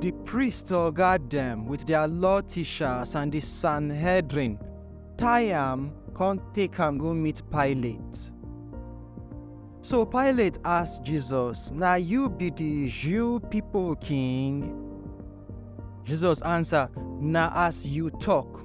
Di priest oga dem wit dia law tishas and di Sanhedrin tie am kon take am go meet Pilate. So Pilate ask Jesus, Na yu bi di Jew pipo king? Jesus ansa, Na as yu tok.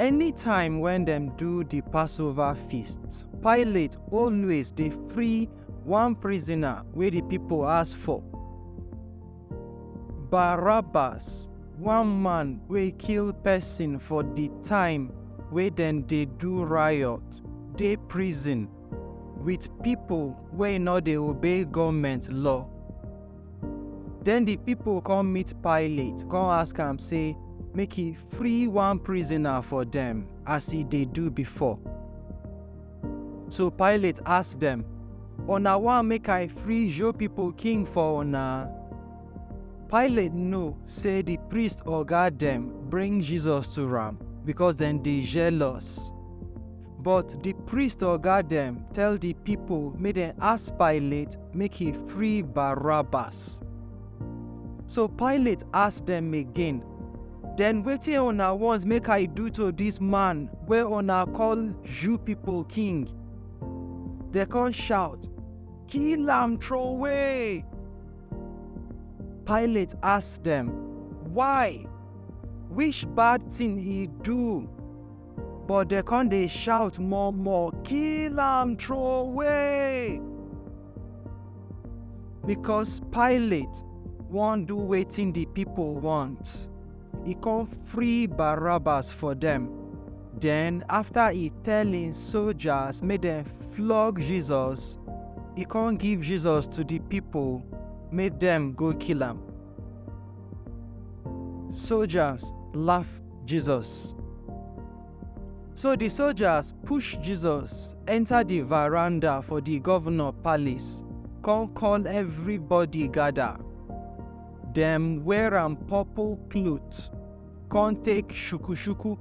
Anytime wen dem do di Passover feast, Pilate always dey free one prisoner wey di pipo ask for, Barabbas, one man wey kill pesin for di time wey dem dey do riot, dey prison wit pipo wey no dey obey goment law. Den di pipo kon meet Pilate kon ask am sey make e free one prisoner for dem as e dey do before. So Pilate ask dem, Una wan make I free Jew pipo king for una? Pilate know sey di priest oga dem bring Jesus to am, bikos dem dey jealous. But di priest oga dem tell di pipo make dem ask Pilate make he free Barabbas. So Pilate ask dem again, Den wetin una want make I do to dis man wey una call Jew pipo king? Dem con shout, Kill am troway! Pilate ask dem, Why? Which bad tin he do? but dem come dey shout more more kill am throway because pilate wan do wetin di pipo want e come free barabbas for dem den afta e tell im soldiers make dem flog jesus e come give jesus to di pipo make dem go kill am soldiers laugh Jesus. So di soldiers push Jesus enta di veranda for di govnor palace kon call evribody gada. Dem wear am purple cloth kon take shuku-shuku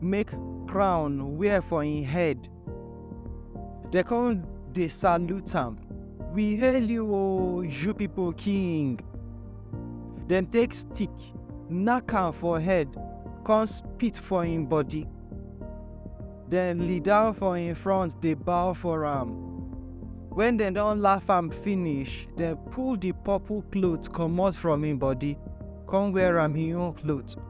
make crown wear for im head They come dey salute am. We hail you o, you people king. Dem take stick, knack am for head, come spit for him body. Dem lie down for him front dey bow for am. When dem don laugh am finish, dem pull the purple cloth comot from him body, come wear am him own cloth.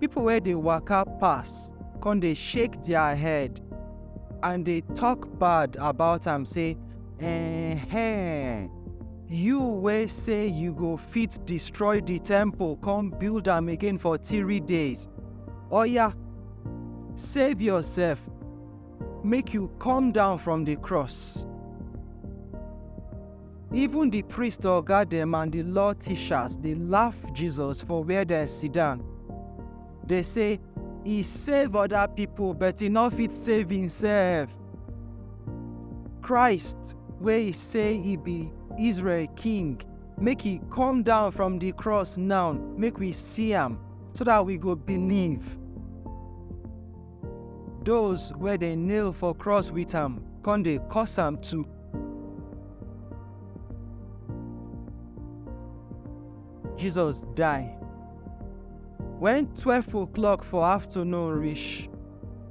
People wey dey waka pass come dey shake their head and dey talk bad about am say, Eh-heh, you wey say you go fit destroy the temple come build am again for three days. Oya, save yourself, make you come down from the cross. Even di priest oga dem and di law teachers dey laugh Jesus for where dem sit down. Dey say, E save oda pipo but e no fit save imsef. Christ wey e say e be Israel king, make e come down from di cross now make we see am so dat we go believe. Doz wey dey nail for cross wit am con dey curse am too. Jesus die. When twelve o'clock for afternoon reach,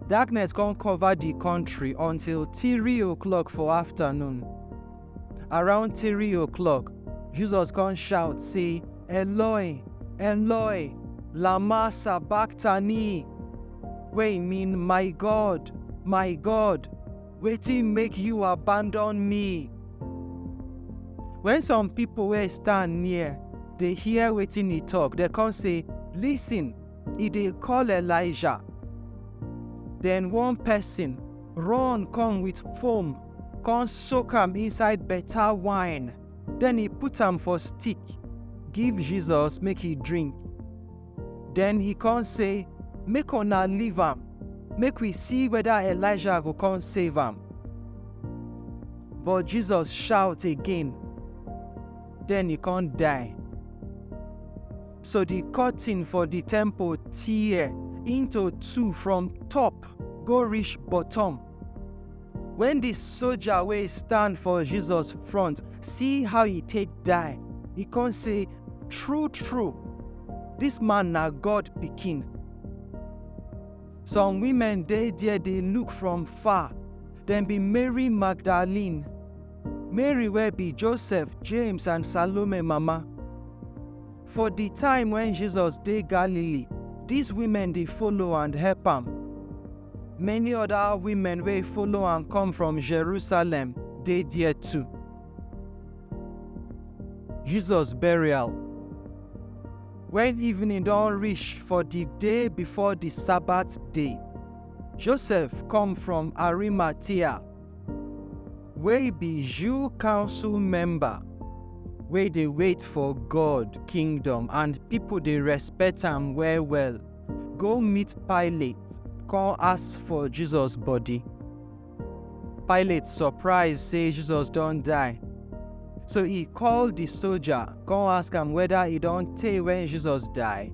darkness come cover the country until three o'clock for afternoon. Around three o'clock, Jesus come shout say, Eloi, Eloi, lama sabachthani, wey mean my God, my God, Wetin make you abandon me? When some people wey stand near dey hear wetin he talk, dem come say, Listen, he dey call Elijah. Then one person run come with foam, come soak am inside better wine. Then he put am for stick, give Jesus make he drink. Den he kon sey, Make una leave am, make wi si weda Elijah go kon save am. But Jesus shaut again, den he kon die. So di kortin for di temple tear into two from top go rish bottom. Wen di soja wey stand for Jesus front see how e take die, e kon sey, True-true, dis man na God Pikin. Some women dey der dey look from far, dem be Mary Magdalene, Mary wey be Josef, James and Salome mama. For di time wen Jesus dey Galilee, dis women dey follow and help am. Many other women wey follow am come from Jerusalem dey there too. Jesus burial. When evening don reach for the day before the Sabbath day, Joseph come from Arimathea, wey be Jew council member wey dey wait for God kingdom and people dey respect am well well. Go meet Pilate, come ask for Jesus body. Pilate surprise say Jesus don die. So he call the soldier, come ask am whether he don tey when Jesus die.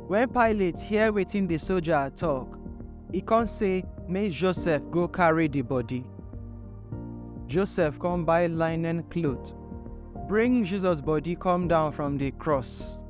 When Pilate hear wetin the soldier talk, he come say make Joseph go carry the body. Joseph come buy linen cloth, bring Jesus body come down from the cross.